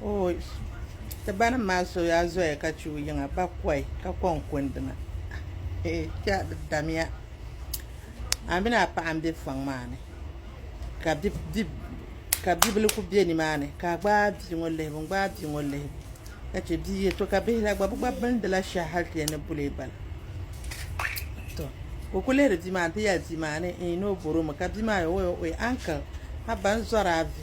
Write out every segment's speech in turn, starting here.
Ooy! Ti banim maa so yaa zoya ka chɛ o yiŋa bakɔi ka kɔŋ kundina. Eeh! Kpɛɣu di damiya. A mini a paɣa m-be fɔŋ maa ni ka bibila kuli be nimaani ka a gbaai bia ŋɔ lihibu n-gbaai bia ŋɔ lihibu ka chɛ bia yi to ka bihi la gba bɛ gba bindila shɛhi hali ti yɛn ni boli ba la. Tɔ! Ka o kuli lihiri bia maa nti yɛli bia maa ni o boromi ka bia maa yɛli o, Ooi! Ooi! Uncle! Haba n zɔri a vi.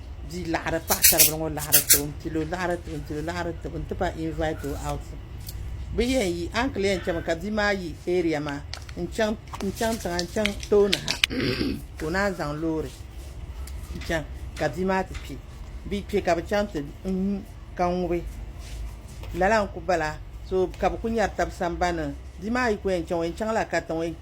bia laɣari paɣasaribili ŋɔ laɣari tibu n pilo laɣari tibu n pilo laɣari tibu n ti pa invite o out bi yɛn yi a ni kuli yɛn chɛmi ka bia maa yi area maa n chaŋ n chaŋ tiŋa n chaŋ tooni ha ka o naan zaŋ loori n chaŋ ka bia maa ti kpɛ bi kpɛ ka bi chaŋ ti nyu ka ŋubi lala n ku bala so ka bi ku nyɛri tabi sambani bia maa yi ku yɛn chaŋ o yɛn chaŋla katiŋ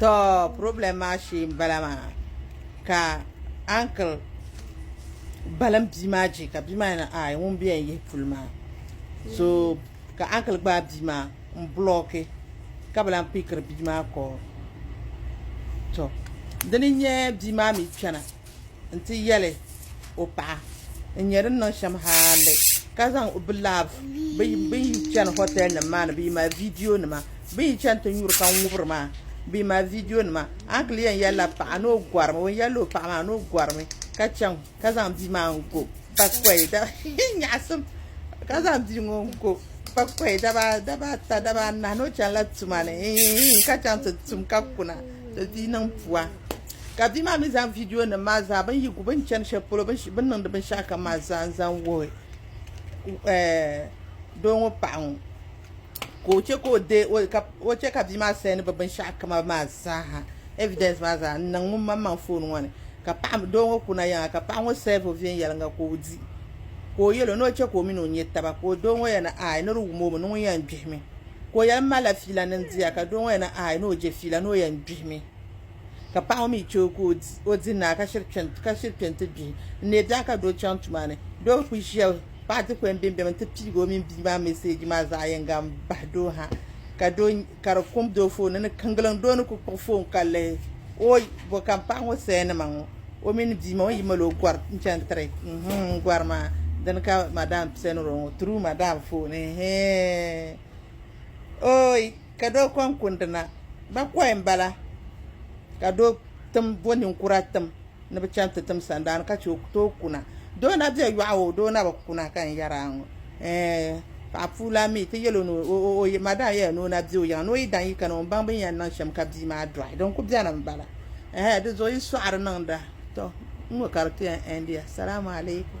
To problem maa shee n bala maa ka uncle balim bia maa je ka bia maa yana ai ŋun bɛ yɛn yihi puli maa so ka uncle gbaai bia maa n blocki ka bi lahi pickiri bia maa call to dini n nyɛ bia maa mi kpɛna. n ti yɛli o paɣa n nyɛ din niŋ shɛm hali ka zaŋ bi laab bi yi chɛni hotɛl nim maa ni bi yi mali viidiyo nima bi yi chɛni ti nyuri ka n ŋubiri maa bi yi mali viidiyo nima a kuli yɛn yɛlila paɣa ni o gɔrimi o yɛlila o paɣa maa ni o gɔrimi ka chɛŋ ka zaŋ bia maa n go ba kɔyi nyaɣasim ka zaŋ bia ŋɔ n go ba kɔyi daba daba ata daba anahi ni o chɛnila tuma ni ka chɛŋ ti tum ka kuna ti di niŋ pua Ka bia maa mi zaŋ vidiyo nim maa zaa bin yi gu bin chani shɛli polo bin niŋdi binshɛɣu kam maa zaa n zaŋ wuhi doo ŋɔ paɣa ŋɔ ka o chɛ ka o dee ka o chɛ ka bia maa sɛni bi binshɛɣu kama maa zaa ha ɛvidɛns maa zaa n niŋ ŋun maŋ maŋ foon ŋɔ ni ka paɣa doo ŋɔ kuna yaŋa ka paɣa ŋɔ sɛɛvi o viɛnyɛlinga ka o di ka o yɛli o ni o chɛ ka o mini o nyɛ taba ka doo ŋɔ yɛli ni aai ni di wum o mi ni ŋun yɛn gbihimi ka o yɛli n malila fiila ni n diya ka doo ŋɔ yɛli ni aai ni o je fiila ni o yɛn gbihimi Ka paɣa ŋɔ mi chɛ o ka o di naa ka shiri kpɛ n-ti bia. N ni daa ka doo chaŋ tuma ni, doo bi kuli ʒiya paɣa dikpuni m-bimbim nti piigi o mini bia maa meseeji maa zaɣ yiŋga m-bahi doo ha ka di kum doo foon ni ni kiŋgiliŋ doo ni kuli kpuɣi foon ka lihi o. Bɔ ka m paɣa ŋɔ sayanima ŋɔ o mini bia maa o ni yi mali o gɔri n-chaŋ nti tiri n gɔri maa dini ka madam pianiri o ŋɔ. True madam foon eehee ooyi. Ka doo kɔŋ kundi na, ba kɔhi m-bala, ka doo tim bo ninkura tim ni bɛ chaŋ ti tim sandaani ka che o tooi kuna. Doo na be yɔɣu o, doo na bi kuna ka n yɛr a ŋɔ. Ɛɛh! Paɣ puu lan mi ti yɛl o ni o o madaam yɛla ni o na be o yiŋa ni o yi dan yi kani o ni baŋ bɛ ni yɛn niŋ shɛm ka bia maa dɔɣi. Din ku beni m-bala. Ɛɛh! Di zuɣu yi sɔɣiri niŋda. Tɔ! N ŋɔ ka di ti yɛn ɛndiya. Salaamu alaikum.